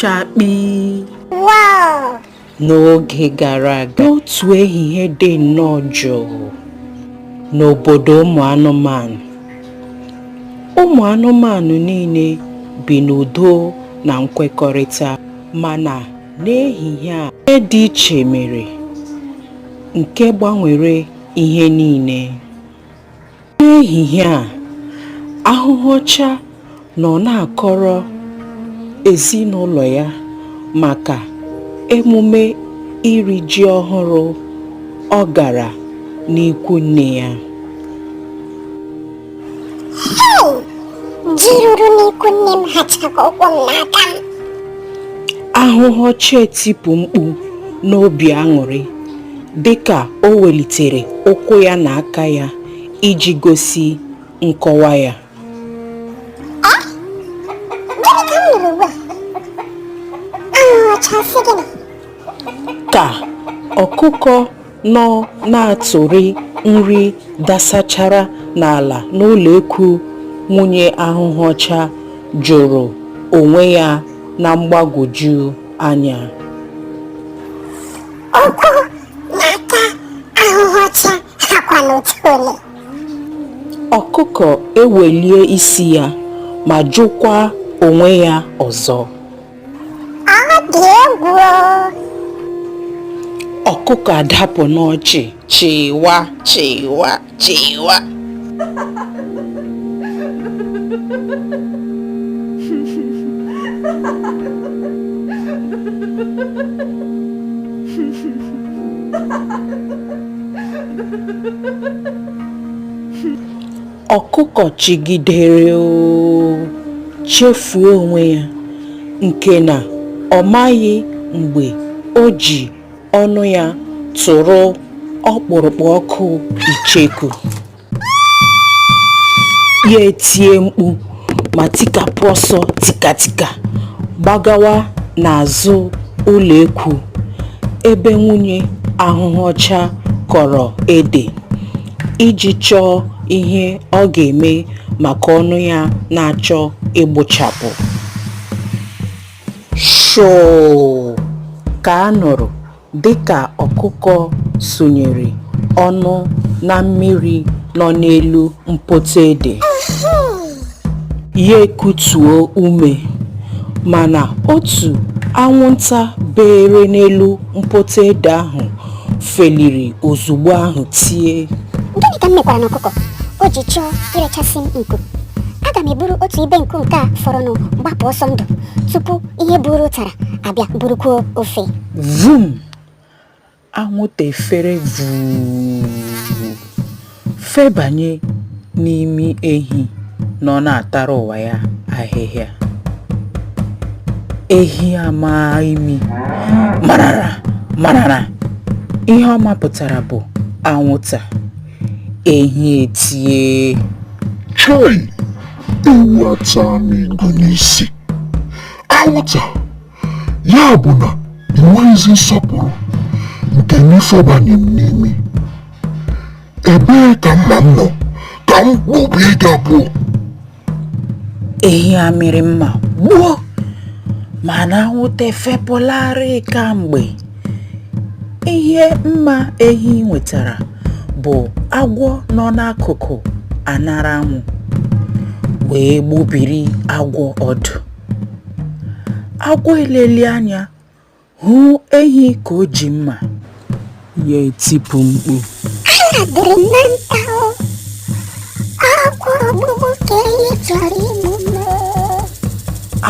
chakpi n'oge gara aga n'otu ehihie dị nnọọ jụụ n'obodo ụmụ anụmanụ ụmụ anụmanụ niile bi n'udo na nkwekọrịta mana n'ehihie a ihe dị iche mere nke gbanwere ihe niile n'ehihie a ahụhụ ọcha nọ na-akọrọ ezinụlọ ya maka emume iri ji ọhụrụ ọ gara n'ikwu nne ya ji ruru n'ikwu nne m hacha ka ụkwụ m na aka m ahụhụ ọcha etipụ mkpu n'obi aṅụrị dịka o welitere ụkwụ ya na aka ya iji gosi nkọwa ya ka ọkụkọ nọ na-atụrị nri dasachara n'ala n'ụlọ ekwu nwunye ahụhụ ọcha jụrụ onwe ya na mgbagwoju anya. Ụkwụ na aka ahụhụ ọcha hakwanụ otu ole. Ọkụkọ ewelie isi ya ma jụkwa onwe ya ọzọ. Ọ dị egwu o. Ọkụkọ adapụ n'ọchị chịwa chịwa. Chịwa. ọkụkọ chịgidere oo chefuo onwe ya nke na ọ maghị mgbe o ji ọnụ ya tụrụ ọkpụrụkpụ ọkụ icheku ya etie mkpu ma tikapụ ọsọ tikatika gbagawa n'azụ ụlọ ekwu ebe nwunye ahụhụ ọcha kọrọ ede iji chọọ ihe ọ ga-eme maka ọnụ ya na-achọ ịgbụchapụ. shoo ka a nụrụ dịka ọkụkọ sunyere ọnụ na mmiri nọ n'elu mpoto ede ya ekutuo ume mana otu anwụnta beere n'elu mpoto ede ahụ feliri ozugbo ahụ tie Gịnị ka m mekwara n'ọkụkọ o ji chọọ irechasị m nku? Aga m eburu otu ibe nku nke a fọrọnụ gbapụ ọsọ ndụ tupu ihe buru ụtara abịa burukwuo ofe. vum anwụnta efere vuu Febanye n'imi ehi nọ na-atara ụwa ya ahịhịa. Ehi amaa imi marara marara, ihe ọ mapụtara bụ anwụnta. Ehi etie, Chai! Ewu ataa m igu n'isi. Anwụnta! ya bụ na i nweghịzi nsọpụrụ nke n'ifebanye m n'imi ebee ka mma m nọ ka m gbubie gị abụọ ehi amịrị mma gbuo mana anwụnta efepụlarị kamgbe ihe mma ehi nwetara bụ agwọ nọ n'akụkụ aṅara anwụ wee gbubiri agwọ ọdụ Agwọ eleli anya hụ ehi ka o ji mma, ya etipụ mkpu. Anya dịrị m na nta o, agwọ ogbugbu ka ehi chọrọ igbu m.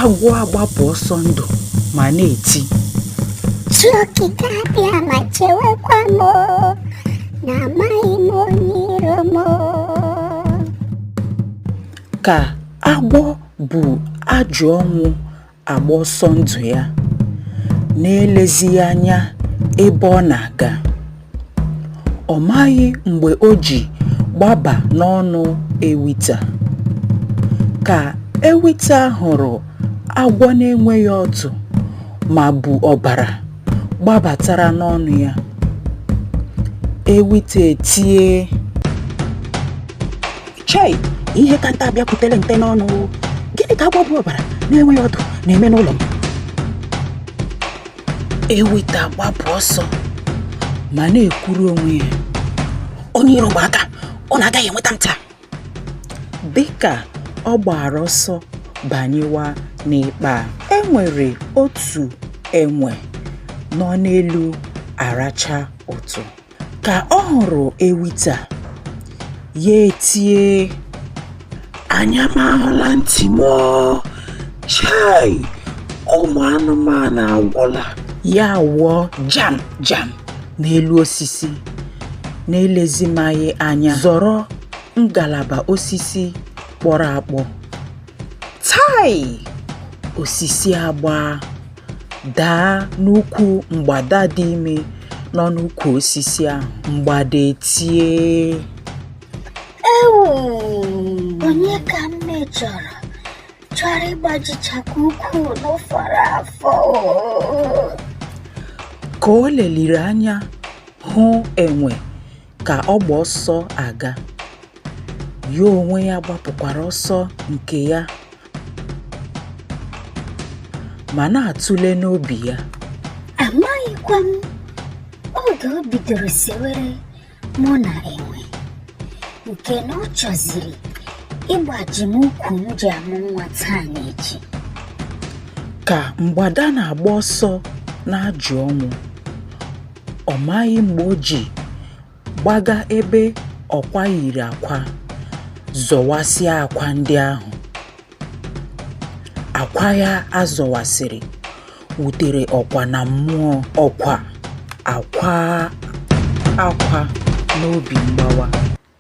Agwọ agbapụ ọsọ ndụ ma na-eti. Chi okike abịa ma chewekwa m o, na amaghị m onye iro m o. Ka agwọ bu ajọ ọnwụ agba ọsọ ndụ ya n'elezighị anya ebe ọ na-aga. Ọ maghị mgbe o ji gbaba n'ọnụ ewita. Ka ewita hụrụ agwọ na-enweghị ọdụ ma bu ọbara gbabatara n'ọnụ ya, ewita etie. chei ihe ka nte abịakwutere nte n'ọnụ gịnị ka agwọ bu ọbara na-enweghị ọdụ na-eme n'ụlọ m ewita agbapụ ọsọ ma na-ekwuru onwe ya onye iro gba aka ọ na-agaghị enweta m taa dịka ọ gbara ọsọ banyewa n'ikpa a e nwere otu enwe nọ n'elu aracha ụtụ Ka ọ hụrụ ewita, ya etie, Anya m ahụla ntị m o! Chai! Ụmụ anụmanụ agwụla. Ya wụọ jam jam n'elu osisi, n'elezimaghị anya zọrọ ngalaba osisi kpọrọ akpọ. Tai! Osisi agbaa. daa n'ukwu mgbada dị ime nọ n'ukwu osisi ahụ mgbada etie ewu onye ka m mejọrọ chọrọ ịgbajichakwa ukwu m fọrọ afọ ka o leliri anya hụ enwe ka ọ gba ọsọ aga ya onwe ya gbapụkwara ọsọ nke ya ma na-atụle n'obi ya amaghịkwa m oge o bidoro sewere mụ na enwe nke na ọ chọziri ịgbaji m ukwu m ji amụ nwa taa na echi ka mgbada na-agba ọsọ na-ajụ ọnwụ Ọ maghị mgbe o ji gbaga ebe ọkwa yiri akwa zọwasịa akwa ndị ahụ. Akwa ya a zọwasịrị wutere ọkwa na mmụọ ọkwa akwaa akwa n'obi mgbawa.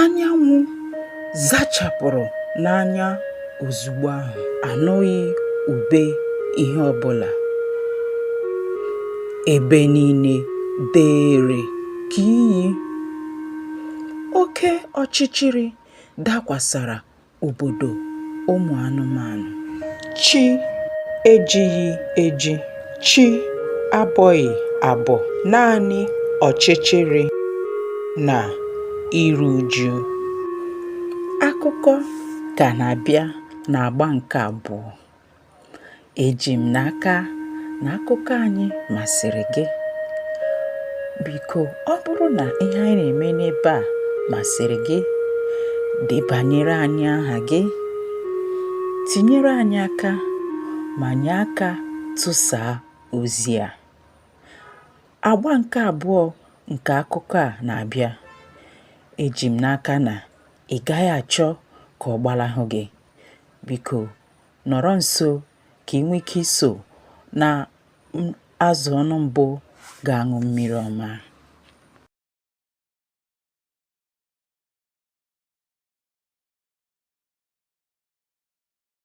anyanwụ zachapụrụ n'anya ozugbo ahụ anụghị ube ihe ọbụla ebe niile dere ka iyi oke ọchịchịrị dakwasara obodo ụmụ anụmanụ. Chi ejighị eji, chi abọghị abọ, naanị ọchịchịrị na iru uju. Akụkọ ka na-abịa n'agba nke abụọ. Eji m n'aka na akụkọ anyị masịrị gị. Biko, ọ bụrụ na ihe anyị na-eme n'ebe a masịrị gị, debanyere anyị aha gị, tinyere anyị aka ma nye aka tụsaa ozi a. Agba nke abụọ nke akụkọ a na-abịa. Eji m n'aka na ị gaghị achọ ka ọ gbalahụ gị. Biko, nọrọ nso ka ị nwee ike iso na azụ ọnụ mbụ ga-aṅụ mmiri ọma.